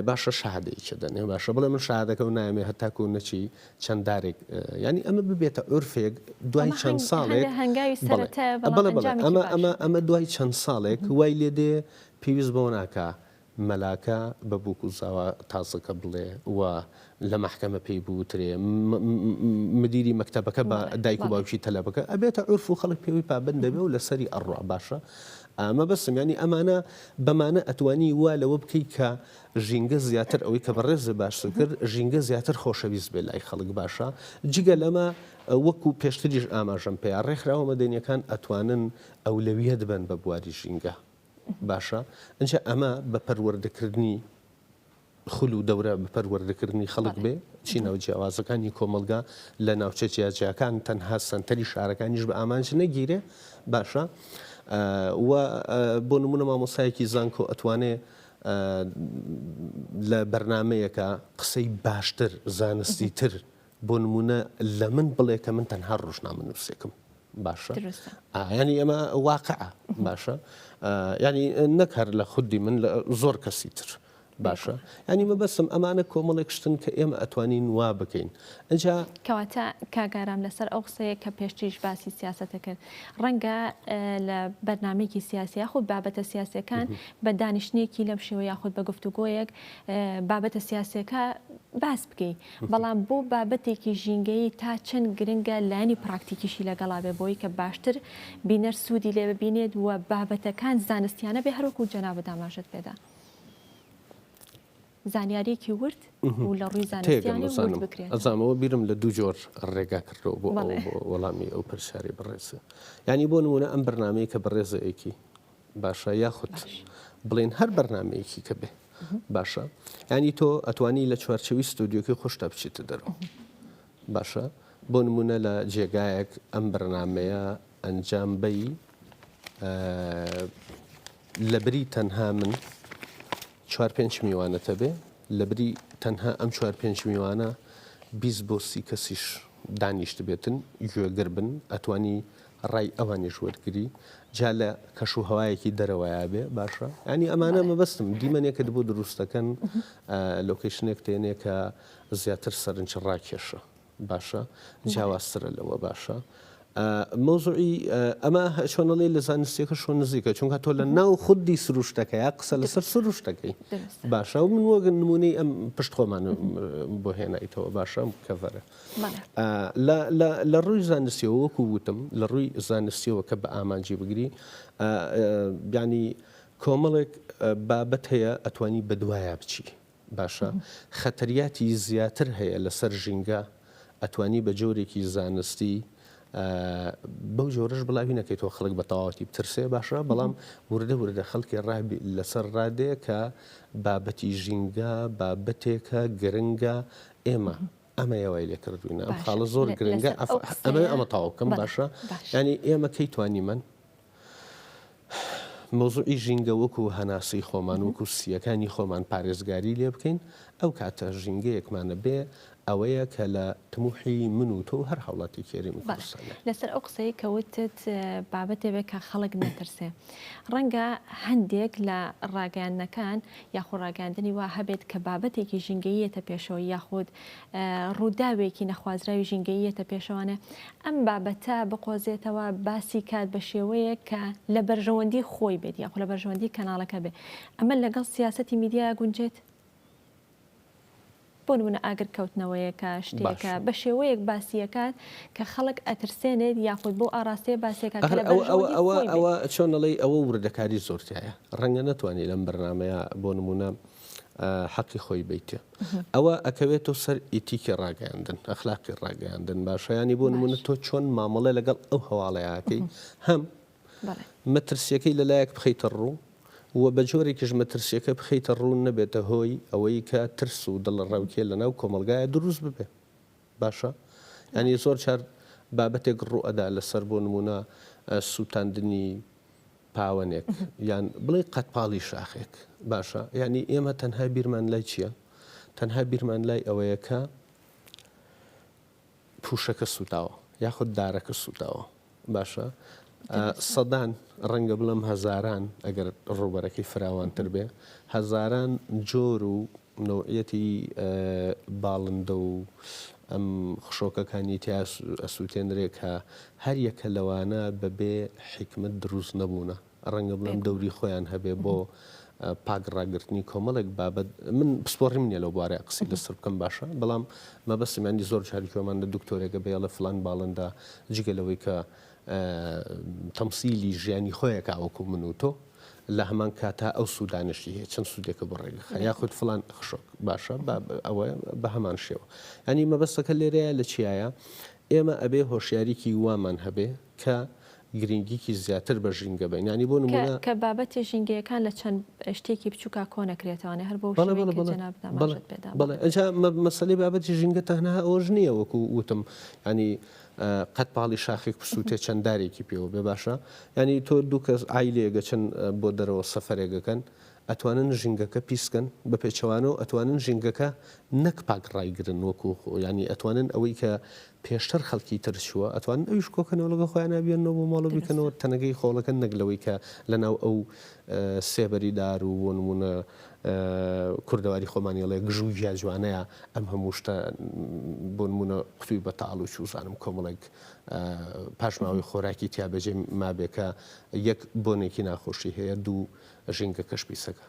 باشە شادێکی دەنێ باشە بڵێ من شادەکە و نامێ هەتاکو نەچی چەند دارێک یانی ئەمە ببێتە عورفێک دوای چەند ساڵێک ئەمە دوای چەند ساڵێک وای لێ دێ پێویست بۆ ناکە مەلاکە بە بووک و زاوا تازەکە بڵێ و لە مححکەمە پێی بوترێ مدیری مەکتتەبەکە بە دایک و باوکی تەلەبەکە ئەبێتە عرف و خەڵک پێوی پابند دەبێ و لەسەری ئەڕوا باشە ئەمە بەسم ینی ئەمانە بەمانە ئەتوانی وا لەوە بکەیت کە ژینگە زیاتر ئەوەی کە بەڕێزت باستی کرد ژینگە زیاتر خۆشەویست بێت لای خەڵک باشە جگە لەمە وەکو پێشتریش ئاماژەم پێیا ڕێکخراوە مەدەنیەکان ئەتوانن ئەولەویەت بن بە بواری ژینگە باشە ئەجا ئەمە بە پەروەردەکردنی خول و دەورە بە پەروەردەکردنی خەڵک بێ چی ناو جیاوازەکانی کۆمەلگا لە ناوچە جیاجیاکان تەنها سنتەری شارەکانیش بە ئامانج نەگیرێ باشە و بۆ نمونە مامۆسایەکی زانکۆ ئەتوانێ لە بەرنامەیەکا قسەی باشتر زانستی تر بۆ نمونە لە من بڵێ کە من تەنها ڕۆژنامە نووسێکم باشە ینی ئەمە واقع باشە ینی نەک هەر لە خودی من لە زۆر کەسی تر باشە ینی مەبەسم ئەمانە کۆمەڵێک شتن کە ئێمە ئەتوانین وا بکەین ئینجا. کەواتە کاک ئارام لەسەر ئەو قسەیە کە پێشتریش باسی سیاسەتە کرد ڕەنگە لە بەرنمێکی سیاسی یاخود بابەتە سیاسەکان بە دانیشتێکی لەم شێوە یاخود بە گفتوگۆیەک بابەتە سیاسەکە باس بکەیت بەڵام بۆ بابەتێکی ژینگەی تا چەند گرنگە لانی پراکتیکیشی لەگەڵا بێ بۆی کە باشتر بینەر سوودی لێ ببینێت و بابەتەکان زانستیانە بێ هەروەکو جەنا بەداماژت پێدا. زانیاریەکی ورد و لە ڕووی زانستیانە ورد بکرێت. تێگەم ئەزانم ئەوە بیرم لە دوو جۆر ڕێگا کردەوە بۆ ئەوەی بۆ وەڵامی ئەو پرسیارەی بەڕێزە. یانی بۆ نموونە ئەم بەرنامەیە کە بەڕێزە ئەیکی باشە یاخود بڵێن هەر بەرنمەیەکی کە بێ باشە یانی تۆ ئەتوانی لە چوارچەوی ستۆدیۆکەی خۆشتا بچیتە دەرەوە باشە بۆ نمونە لە جێگایەک ئەم بەرنامەیە ئەنجام بەی لەبری تەنها من چوار پێنج میوانەتە بێ لەبری تەنها ئەم چوار پێنج میوانە بیس بۆ سی کەسیش دانیشت بێتن گوێگر بن ئەتوانی ڕای ئەوانیش وەرگری جا لە کەش و هەوایەکی دەرەوەیا بێ باشە ینی ئەمانە مەبەستم دیمەنێکت بۆ دروستەکەن لۆکیشنێک تێنێکە زیاتر سەرنج ڕاکێشە باشە جیاوازترە لەوە باشە مەوزوعی ئەمە چۆنەڵێ لە زانستیەکە شۆ نزیکە چونکە تۆ لە ناو خودی سروشتەکەی قسە لەسەر سروشتەکەی باشە و من وەگەن نمونەی ئەم پشت خۆمان بۆ هێنایتەوە باشەم کەڤەرە لە ڕووی زانستیەوە وەکو وتم لە ڕووی زانستیەوە کە بە ئامانجی بگری بیانی کۆمەڵێک بابەت هەیە ئەتوانی بەدوایە بچی باشە خەتریاتی زیاتر هەیە لەسەر ژینگە ئەتوانی بە جۆرێکی زانستی بەو جۆرەش بڵاوی نەکەیتەوە خەڵک بە تەواوەتی بترسێ باشە بەڵام وردە وردە خەڵکی ڕابی لەسەر ڕادێ کە بابەتی ژینگە بابەتێکە گرنگە ئێمە ئەمە یاوای لێ کردوینە ئەم خاڵە زۆر گرنگە ئەمە ئەمە تاوکەم باشە ینی ئێمە کەی توانیمەن مەوزوعی ژینگە وەکو هەناسەی خۆمان، وەکو سییەکانی خۆمان پارێزگاری لێ بکەین، ئەو کاتە ژینگەیەکمانە بێ ئەوەیە کە لە تموحی من و تۆ و هەر هاوڵاتیەکی هەرێمی کوردستانە. بەڵێ، لەسەر ئەو قسەیەی کە وتت بابەتێ بێ کە خەڵک نەترسێ. ڕەنگە هەندێک لە ڕاگەیاندنەکان یاخود ڕاگەیاندنی وا هەبێت کە بابەتێکی ژینگەیی یەتە پێشەوە یاخود ڕووداوێکی نەخوازراوی ژینگەییەتە پێشەوانە ئەم بابەتە بقۆزێتەوە باسی کات بە شێوەیەک کە لە بەرژەوەندی خۆی بێت یاخ لە بەرژەوەندی کەناڵەکە بێت ئەمە لەگەڵ سیاستی میدیای گونجێت بۆ منە ئاگر کەوتنەوەیەکە شتێکە بە شێوەیەک باسیەکات کە خەڵک ئەترسێنێت یاخود بۆ ئاراستەیە باسێکە ئەوە چۆنەڵی ئەوە وردەکاری زۆرتایە ڕەنگە نتوانانی لەم بەرنمەیە بۆ نمونە حەقی خۆی بیتێ ئەوە ئەکەوێتەوە سەر ئیتیکی ڕاگەیاندن ئەخلاقی ڕاگەیاندن باشە ینی بۆ نمونە تۆ چۆن مامەڵێ لەگەڵ ئەو هەواڵەیەکەی هەم مەترسیەکەی لەلایەک بخیتە ڕوو و بە جۆرێکیش مەترسیەکە بخیتە ڕوون نەبێتە هۆی ئەوەی کە ترس و دڵە ڕاوکێ لەناو کۆمەلگایە دروست ببێ باشە ینی زۆر چار بابەتێک ڕوو ئەدا لەسەر بۆ نمونە سووتاندنی پاوەنێک یان بڵێ قەدپاڵی شاخێک باشە یعنی ئێمە تەنها بیرمان لای چییە؟ تەنها بیرمان لای ئەوەیە کە پوشەکە سووتاوە یاخود دارەکە سووتاوە باشە سەدان ڕەنگە بڵم هەزاران ئەگەر ڕوبەرەکەی فراوانتر بێ هەزاران جۆر و نەوعیەتی باڵندە و ئەم خشۆکەکانی تیا ئەسووتێنرێ کە هەر یەکە لەوانە بە بێ حیکمەت دروست نەبوونە، ڕەنگە بڵێم دەوری خۆیان هەبێ بۆ پاک ڕاگرتنی کۆمەڵێک بابەت، من پسپۆڕیم نییە لەو بوارە قسەی لەسەر بکەم باشە، بەڵام مەبەستم یانی زۆر جار گوێمان لە دکتۆرێکە بێ ئەڵێ فڵان باڵندە جگە لەوەی کە تەمسیلی ژیانی خۆیەکا وەکوو من و تۆ، لە هەمان کاتا ئەو سوودانەشی هەیە چەند سوودێکە بۆ ڕێگەخە یاخود فلان خشک باشە ئەوە بە هەمان شێوە ئەنی مەبەستەکە لێرەیە لە چیایە ئێمە ئەبێ هۆشیاریکی وامان هەبێ کە گرنگیکی زیاتر بە ژینگە بینانی بۆ نمونە کە بابەتی ژینگەیەکان لە چەند شتێکی بچووکا کۆ نەکرێتوانێ هەر بۆ بەڵێ ئەجا مەسلەی بابەتی ژینگە تەنها ئەوەش نییە وەکو وتم ینی قەت پاڵی شاخێک بسووتێ چەند دارێکی پێوە بێ باشە یانی تۆ دوو کەس عایلەیەک ئەچن بۆ دەرەوە سەفەرێک ئەکەن ئەتوانن ژینگەکە پیس کەن بە پێچەوانەوە ئەتوانن ژینگەکە نەک پاک ڕایگرن وەکو خۆ یانی ئەتوانن ئەوەی کە پێشتر خەڵکی تر چووە ئەتوانن ئەویش کۆکەنەوە لەگەڵ خۆیانە بیێنەوە بۆ ماڵ و بیکەنەوە دەستە. تەنەکەی خۆڵەکە نەک لەوەی کە لەناو ئەو سێبەری دار و بۆ نموونە کوردەواری خۆمان یڵێ گژ و گیا جوانەیە ئەم هەموو شتە بۆنموونە قوتووی بەتاڵ و چوزانم کۆمەڵێک پاشماوەی خۆراکی تیا بەجێ مابێ کە یەک بۆنێکی ناخۆشی هەیە دوو ژینگەکەش پیسەکە.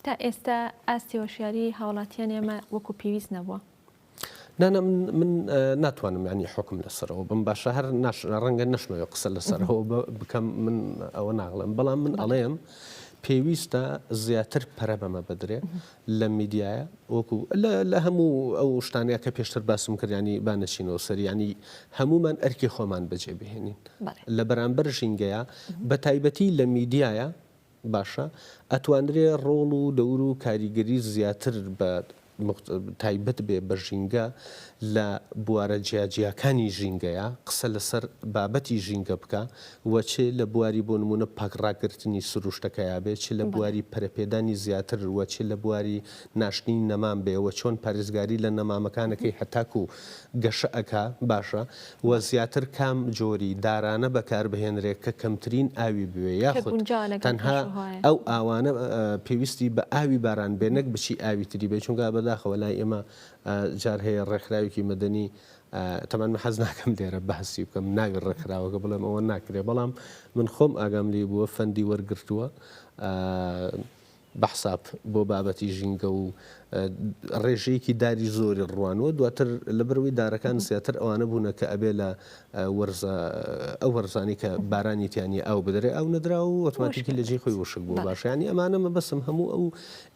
تا ئێستا ئاستی هۆشیاری هاوڵاتیانی ئێمە وەکو پێویست نەبووە. نا نا من من ناتوانم یانی حکم لەسەرەوە بم باشە هەر ناش ڕەنگە نەشمەوێ قسە لەسەرەوە بکەم من ئەوە ناڵێم بەڵام من ئەڵێم پێویستە زیاتر پەرە بەمە بدرێ لە میدیایە وەکو لە هەموو ئەو شتانەیە کە پێشتر باسم کردیانی بانەچینەوە سەریانی هەمومان ئەرکی خۆمان بەجێ بهێنین لە بەرامبەر ژینگەیە بە تایبەتی لە میدیایە باشە ئەتوانرێ ڕۆڵ و دەور و کاریگەری زیاتر بە تایبەت بێ بە ژینگە لە بوارە جیاجیاکانی ژینگەیا قسە لەسەر بابەتی ژینگە بکا و چ لە بواری بۆ نموونە پاک ڕاگرتنی سروشتەکەیا بێ چ لە بەڵێ. بواری پەرەپێدانی زیاتر و چ لە بواری ناشتنی نەمام بێ و چۆن پارێزگاری لە نەمامەکانەکەی هەتاکوو گەشە ئەکا باشە و زیاتر کام جۆری دارانە بەکاربهێنرێ کە کەمترین ئاوی بوێ یاخود تەنها ئەو ئاوانە پێویستی بە ئاوی باران بێ نەک بچی ئاوی تری بێ چونگا بەداخەوە لای ئێمە جار هەیە ڕێکخراوێکی مەدەنی تەمان من حەز ناکەم لێرە بەهسی بکەم ناوی ڕێکخراوەکە بڵێم ئەوە ناکرێ بەڵام من خۆم ئاگام لێ بووە فەندی وەرگرتووە بەحساب بۆ بابەتی ژینگە و ڕێژەیەکی داری زۆری ڕوانوە دواتر لەبەرئەوەی دارەکان زیاتر ئەوانە بوونە کە ئەبێ لە وەرزە ئەو وەرزانەی کە بارانی تیا نیە ئاو بدرێ ئاو نەدرا و ئۆتۆماتیکی لەجێی خۆی وشک بوو باشە یانی ئەمانە مەبەستم هەموو ئەو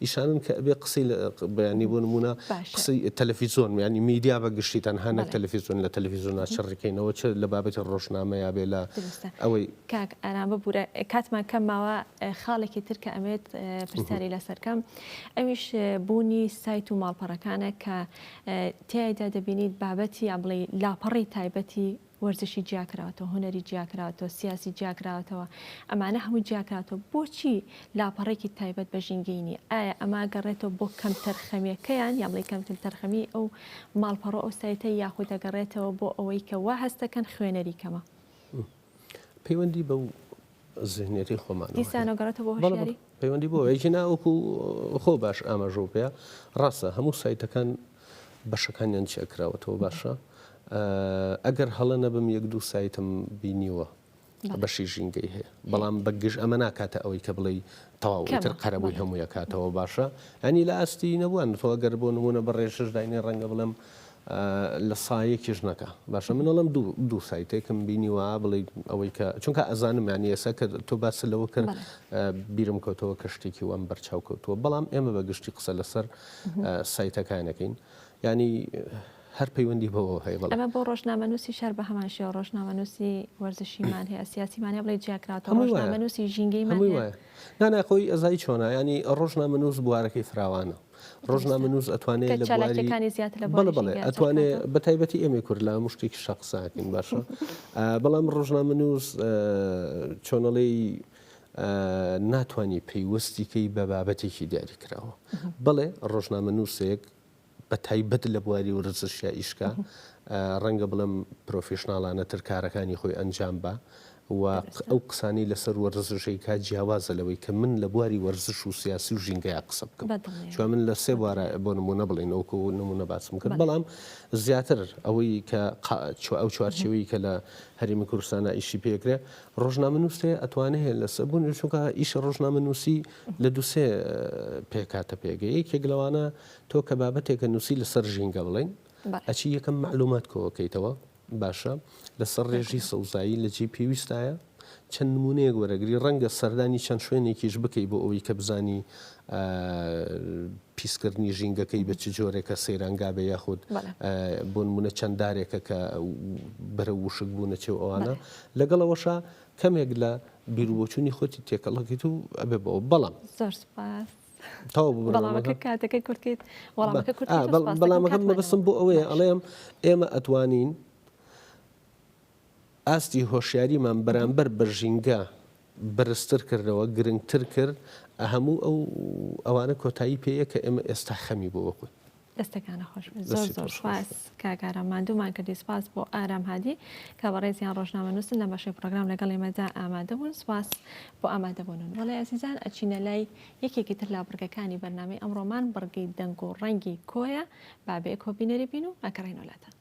ئیشانەن کە ئەبێ قسەی لە بەیانی بۆ نموونە قسەی تەلەفیزۆن یانی میدیا بە گشتی تەنها نەک تەلەفیزۆن لە تەلەفیزۆنا چڕیکەینەوە چ لە بابەتی ڕۆژنامەیا بێ لە ئەوەی کاک ئارام ببورە کاتمان کەم ماوە خاڵێکی تر کە ئەمێت پرسیاری لەسەرکەم ئەویش بوونی سایت و ماڵپەڕەکانە کە تایدا دەبینیت بابەتی یا بڵێ لاپەڕی تایبەتی وەرزشی جیاکراوەتەوە هوەری جیاکراوەتەوە سیاسی جیاکراوەتەوە ئەمانە هەموو جیاکراوەتەوە بۆچی لاپەڕێکی تایبەت بە ژینگەینی ئایا ئەما گەڕێتەوە بۆ کەم تەرخەمیەکەیان یا بڵی کەمتر تەرخەمی ئەو ماڵپەڕۆ ئەو سایتە یاخود دەگەڕێتەوە بۆ ئەوەی کە وا هەستەکەن خوێنەری کەمە. پەیوەندی بەو زهنیەتی خۆمانەوە دیسانە گەڕێتە بۆ هەڵ پەیوەندی بۆ یەکی ناوەکو خۆ باش ئاماژۆ پێ ڕاستە هەموو سایتەکان بەشەکانیان چێکراوەتەوە باشە ئەگەر هەڵە نەبم یەک دوو سایتم بینیوە بەشی ژینگەی هەیە بەڵام بەگژ ئەمە ناکاتە ئەوەی کە بڵێ تەواوتر قەرەبووی هەموویە کاتەوە باشە ئەنی لە ئاستی نەبووان تۆگەر بۆ نمونە بەڕێشش داینێ ڕەنگە بڵم لە سایەی کیژنەکە باشە من ئەڵێم دوو دوو سایتێکم بینیوە بڵێی ئەوەی کە چونکە ئەزانم یانی ئێستا کە تۆ باست لەوە کرد بیرم کەوتەوە کە شتێکی وام بەرچاو کەوتووە بەڵام ئێمە بە گشتی قسە لەسەر سایتەکانەکەین ینی هەر پەیوەندی بەوە هەیە بەڵام ئەمە بۆ ڕۆژنامەنووسی شار بە هەمان شێوە ڕۆژنامەنووسی وەرزشیمان هەیە سیاسیمانە بڵێ جیاکراوە هەمووی وایە. ڕۆژنامەنووسی ژینگەیمان هەمووی هەیە. وایە نانا خۆی ئەزای چۆنە ینی ڕۆژنامەنووس بوارەکەی فراوانە ڕۆژنامەنووس ئەتوانێ لە بواری بەڵێ بەڵێ ئەتوانێ بە تایبەتی ئێمەی کورد لە هەموو شتێکی شە قساکەین باشە بەڵام ڕۆژنامەنووس چۆنەڵی ناتوانانی پەیوەستیکەی بە بابەتێکی دیاری کراوە بەڵێ ڕۆژنامە نووسێک بە تایبەت لە بواری ورزشیا ئیشکە ڕەنگە بڵم پرۆفیشنناڵانە تر کارەکانی خۆی ئەنجام بە و ئەو قسانەی لەسەر وەرزشی کا جیاوازە لەوەی کە من لە بواری وەرزش و سیاسی و ژینگەیا قسە بکەم چوە من لە سێ بوارا بۆ نمونە بڵێین وەکو نمونە باسم کرد بەڵام زیاتر ئەوەی کە چوە ئەو چوارچێوەی کە لە هەرێمی کوردستانا ئیشی پێکرێ ڕۆژنامە نووسێ ئەتوانێ هێ لەسە بوون چونکە ئیشە ڕۆژنامە نووسی لە دووسێ پێکاتە پێگە یەکێک لەوانە تۆ کە بابەتێکە نووسی لەسەر ژینگە بڵین ئەچی یەکەم معلومات کۆکەیتەوە باشە لەسەر ڕێژی سەوزایی لە جێی پێویستایە چەند نمونەیەک وەرەگری ڕەنگە سەردانی چەند شوێنێکیش بکەی بۆ ئەوەی کە بزانی پیسکردنی ژینگەکەی بە چ جۆرێکە سەیرانگا بە یاخود بۆ نمونە چەند دارێکە کە بەرە وشک بوو نەچێ و ئەوانە لەگەڵەوەشە کەمێک لە بیرروبچووی خۆتی تێکەڵەکەیت و ئەبێ بەوە بەڵام زۆر سپاس. بەڵامەکەم مەبسم بۆ ئەوەیە ئەڵێم ئێمە ئەتوانین ئاستی هۆشیاریمان بەرامبەر بە ژینگە بەرزتر کردەوە گرنگتر کرد هەموو ئەو ئەوانە کۆتایی پێیە کە ئێمە ئێستا خەمی بۆ وەکوت دەستەکانت خۆش بێت زۆر زۆر سوپاس کاک ئارام ماندوومان کردی سوپاس بۆ ئارام هادی کە بەڕێزیان ڕۆژنامەنووسن لە بەشەی پرۆگرام لەگەڵ ئێمەدا ئامادە بوون سوپاس بۆ ئامادەبوونن بەڵێ ئەزیزان ئەچینە لای یەکێکی تر لا بڕگەکانی بەرنامەی ئەمڕۆمان بڕگەی دەنگ و ڕەنگی کۆیە بابێ کۆبینەری بین و ئەگەڕێینەوە لاتان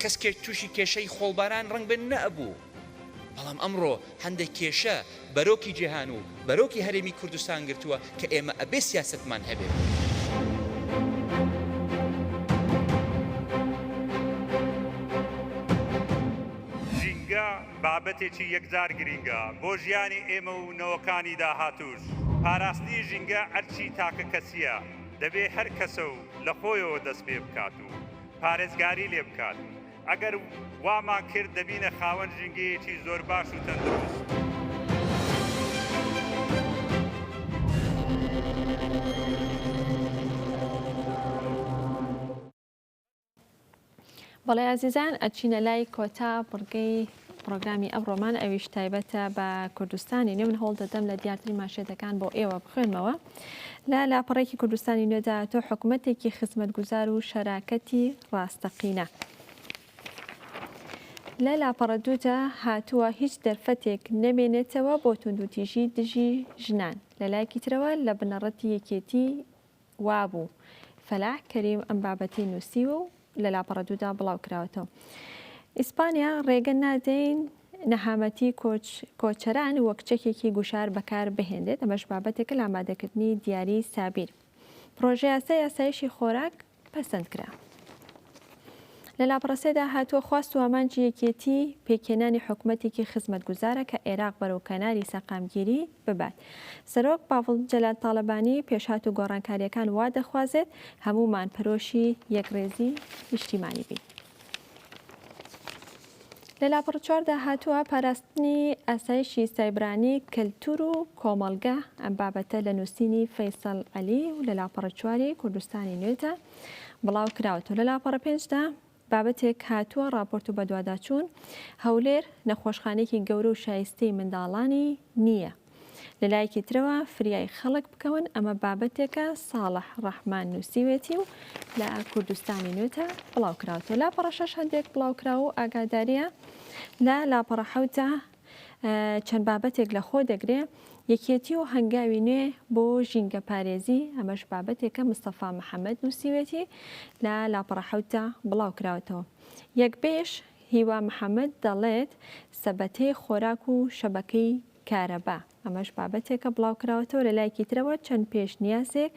کەسکێک تووشی کێشەی خۆڵباران ڕەنگبن نەئەبوو، بەڵام ئەمڕۆ هەندێک کێشە بەرۆکی جیهان و بەرۆکی هەرێمی کوردستان گرتووە کە ئێمە ئەبێ سیاسەتمان هەبێ. ژینگە بابەتێکی یەکجار گرینگە بۆ ژیانی ئێمە و نەوەکانی داهاتووش. پاراستنی ژینگە ئەرکی تاکە کەسییە، دەبێ هەر کەسە و لە خۆیەوە دەست پێ بکات. پارێزگاری لێ بکات، ئەگەر وامان کرد دەبینە خاوەن ژینگەیەکی زۆر باش و تەندروست. بەڵێ ئازیزان ئەچینە لای کۆتا بڕگەی پرۆگرامی ئەمڕۆمان ئەویش تایبەتە بە کوردستانی نێ من هەوڵ دەدەم لە دیارترین ماشێتەکان بۆ ئێوە بخوێنمەوە لە لاپەڕەیەکی کوردستانی نوێدا تۆ حکومەتێکی خزمەتگوزار و شەراکەتی ڕاستەقینە. لە لاپەڕە دوودا هاتووە هیچ دەرفەتێک نەمێنێتەوە بۆ توندوتیژی دژی ژنان لە لایەکی ترەوە لە بنەڕەتی یەکێتی وابوو فەلاح کەریم ئەم بابەتی نووسیوە و لە لاپەڕە دوودا بڵاوکراوەتەوە ئیسپانیا ڕێگە نادەین نەهامەتی کۆچ کۆچەران وەک چەکێکی گوشار بەکار بهێنێت ئەمەش بابەتێکە لە ئامادەکردنی دیاری سابیر پرۆژەیاسە یاسایشی خۆراک پەسەند کرا لە لاپڕسێدا هاتووە خواست و ئامانجی یەکێتی پێکێنانی حکومەتێکی خزمەتگوزارە کە عێراق بەرەو کەناری سەقامگیری ببات. سەرۆک باڤڵ جەلال تاڵەبانی پێشهات و گۆڕانکارییەکان وا دەخوازێت هەموومان پەرۆشی یەکڕێزی نیشتیمانی بین. لە لاپەڕە چواردا هاتووە پاراستنی ئاسایشی سایبرانی کەلتور و کۆمەڵگە ئەم بابەتە لە نووسینی فەیسەڵ عەلی و لە لاپەڕە چواری کوردستانی نوێدا بڵاو کراوەتەوە لە لاپەڕە پێنجدا بابەتێک هاتووە ڕاپۆرت و بەدواداچوون، هەولێر نەخۆشخانەیەکی گەورە و شایستەی منداڵانی نییە. لە لایەکی ترەوە فریای خەڵک بکەون ئەمە بابەتێکە ساڵح ڕەحمان نووسیوێتی و لە کوردستانی نوێدا بڵاوکراوەتەوە. لاپەڕە شەش هەندێک بڵاوکراو و ئاگادارییە لە لاپەڕە حەوتدا چەند بابەتێک لە خۆ دەگرێ، یەکێتی و هەنگاوی نوێ بۆ ژینگەپارێزی، ئەمەش بابەتێکە مستەفا محەمەد نووسیوێتی، لە لاپەڕە حەوتدا بڵاو کراوەتەوە. یەکبێژ هیوا محەمەد دەڵێت، سەبەتەی خۆراک و شەبەکەی کارەبا، ئەمەش بابەتێکە بڵاوکراوەتەوە لە لایەکی ترەوە چەند پێشنیازێک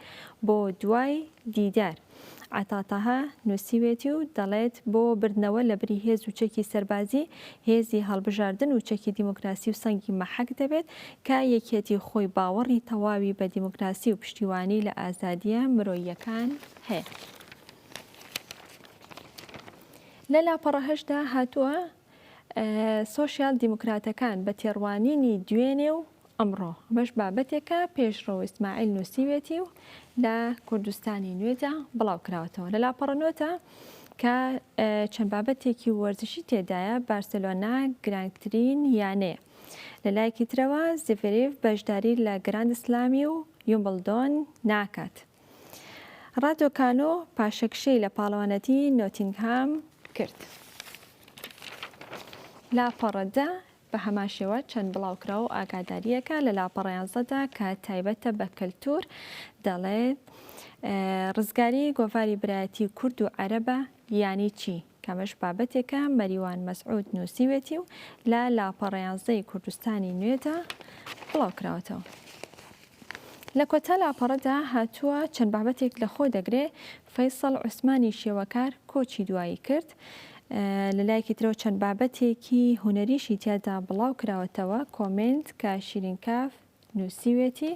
بۆ دوای دیدار عەتا تەها نووسیوێتی و دەڵێت بۆ بردنەوە لە بری هێز و چەکی سەربازی هێزی هەڵبژاردن و چەکی دیموکراسی و سەنگی مەحەک دەبێت کە یەکێتی خۆی باوەڕی تەواوی بە دیموکراسی و پشتیوانی لە ئازادیە مرۆیەکان هەیە. لە لاپەڕە هەشتدا هاتووە سۆشیال دیموکراتەکان بە تێڕوانینی دوێنێ و ئەمڕۆ ئەمەش بابەتێکە پێشڕەو ئیسماعیل نووسیوێتی و لە کوردستانی نوێدا بڵاو کراوەتەوە لە لاپەڕە نوێتە کە چەند بابەتێکی وەرزشی تێدایە بارسلۆنا گرانگترین یانەیە لە لایەکی ترەوە زیڤریف بەشداری لە گراند سلامی و یومبلدۆن ناکات رادۆکانۆ پاشەکشەی لە پاڵەوانەتی نۆتینگهام کرد. لاپەڕە دە، بە هەمان شێوە چەند بڵاوکراو و ئاگادارییەکە لە لاپەڕە یانزە دا کە تایبەتە بە کەلتوور دەڵێت، رزگاریی گۆڤاری برایەتیی کورد و عەرەبە یانی چی؟ کەمەش بابەتێکە مەریوان مەسعود نووسیوێتی و لە لاپەڕەیانزدەی کوردستانی نوێدا بڵاوکراوەتەوە. لە کۆتا لاپەڕەدا هاتووە، چەند بابەتێک لەخۆ دەگرێ، فەیسەڵ عوسمانی شێوەکار کۆچی دوایی کرد، لە لایەکی ترەوە چەند بابەتێکی هونەریشی تیادا بڵاوکراوەتەوە، کۆمێنت، کە شیرین کاف، نووسیوێتی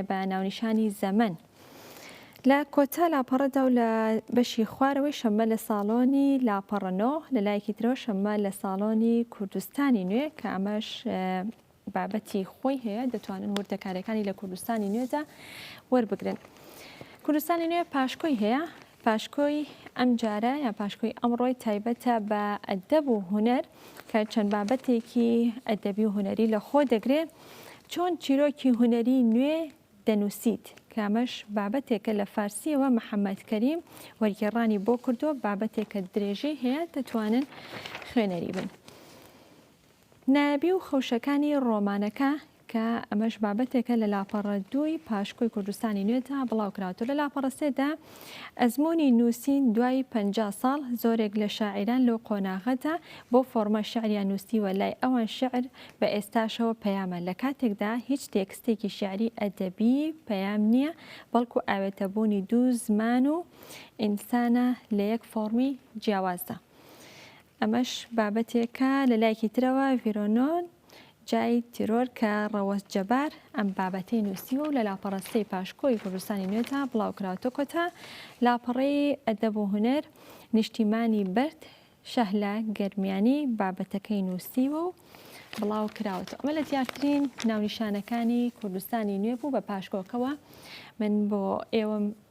بە ناونیشانی زەمەن. لە کۆتا لاپەڕەدا و لە بەشی خوارەوەی شەممە لە ساڵۆنی لاپەڕە نۆ، لە لایەکی ترەوە شەممە لە ساڵۆنی کوردستانی نوێ کە ئەمەش بابەتی خۆی هەیە دەتوانن وردەکاریەکانی لە کوردستانی نوێدا وەربگرن. کوردستانی نوێ پاشکۆی هەیە پاشکۆی ئەمجارە یا پاشکۆی ئەمڕۆی تایبەتە بە ئەدەب و هونەر کە چەند بابەتێکی ئەدەبی و هونەری لە خۆ دەگرێ چۆن چیرۆکی هونەری نوێ دەنووسیت کە ئەمەش بابەتێکە لە فارسیەوە محەممەد کەریم وەرگێڕانی بۆ کردووە بابەتێکە درێژەی هەیە دەتوانن خوێنەری بن. نایابی و خەوشەکانی ڕۆمانەکە کە ئەمەش بابەتێکە لە لاپەڕە دووی پاشکۆی کوردستانی نوێدا بڵاو کراوەتەوە لە لاپەڕە سێدا ئەزموونی نووسین دوای پەنجا ساڵ زۆرێک لە شاعیران لەو قۆناغەدا بۆ فۆرمە شعریان نووسیوە لای ئەوان شعر بە ئێستاشەوە پەیامە لە کاتێکدا هیچ تێکستێکی شعری ئەدەبی پەیام نییە بەڵکو ئاوێتەبوونی دوو زمان و ئینسانە لە یەک فۆڕمی جیاوازدا. ئەمەش بابەتێکە لە لایکی ترەوە ڤیرۆنۆن جای تیرۆر کە ڕەوەز جەبار ئەم بابەتەی نووسیوە و لە لاپەڕەستەی پاشکۆی کوردستانی نوێتا بڵاوکراوتە کۆتا لاپەڕەی ئەدەب و هوەر نیشتیمانی بەرد شەهلە گەرمیانی بابەتەکەی نووسیوە و بڵاو کراوەتە ئەمە لە دیارترین ناونیشانەکانی کوردستانی نوێ بوو بە پاشکۆکەوە من بۆ ئێوەم